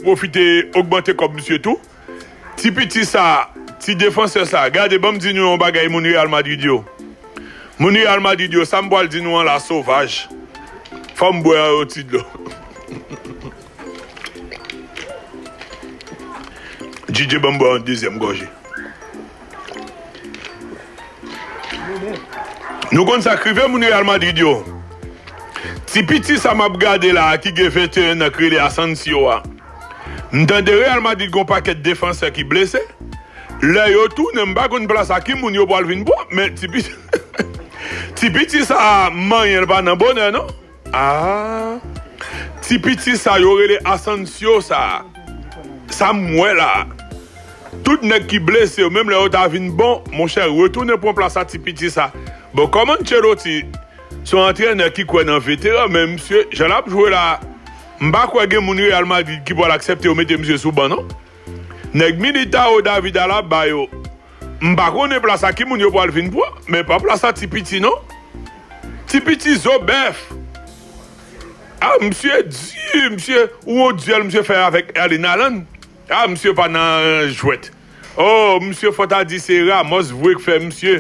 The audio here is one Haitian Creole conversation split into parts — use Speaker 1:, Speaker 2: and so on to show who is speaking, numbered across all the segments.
Speaker 1: Profite ogmante kòb misye tou. Ti piti sa ti defansè sa gade banm di nou yon bagay moun real madrid yo moun real madrid yo sam pwal di nou an la sovaj fòm bwè yon ti dlo JJ banm bwè yon dezyèm gòje. Nou konn sa k rive moun Real Madrid yo? Ti piti sa m ap gade la a ki gen 21 nan k rele Asensio a. M tande Real Madrid gen yon pakèt defansè ki blese. Lè yo tounen m pa konn plas a ki moun yo pral vin pran men ti piti sa a manyen l pa nan bonè non. Aah ti piti sa yo rele Asancio sa sam wè la tout nèg ki blese yo menm lè yo ta vin bon monchè retounen pran plas a ti piti sa bon kòm Ancelotti son antrenè ki kwè nan veteran men misye jan lap jwe la mpa kwè gen moun Real Madrid ki pwal aksepte yo mete misye sou ban non. Nèg milita yo David Alaba ba yo m pa konnen plas a ki moun yo pwal vin pran men pa plas a ti piti non ti piti zo bèf ah misye di misye ou won duel misye fè avèk Erling Haaland ah misye pa nan jwèt oh misye fò ta di se Ramos vwe k fè misye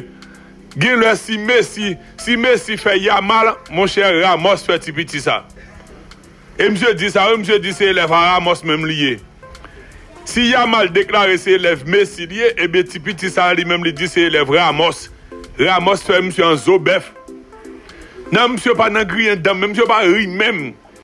Speaker 1: gen lè si Messi si Messi fè Yamal monchè Ramos fè ti piti sa. E misye di sa wi misye di se elèv a Ramos menm li ye. Si Yamal deklare se elèv Messi li ye ebyen ti piti sa li menm li di se elèv Ramos. Ramos fè misye an zo bèf. Nan misye pa nan griyen dan men misye pa ri menm.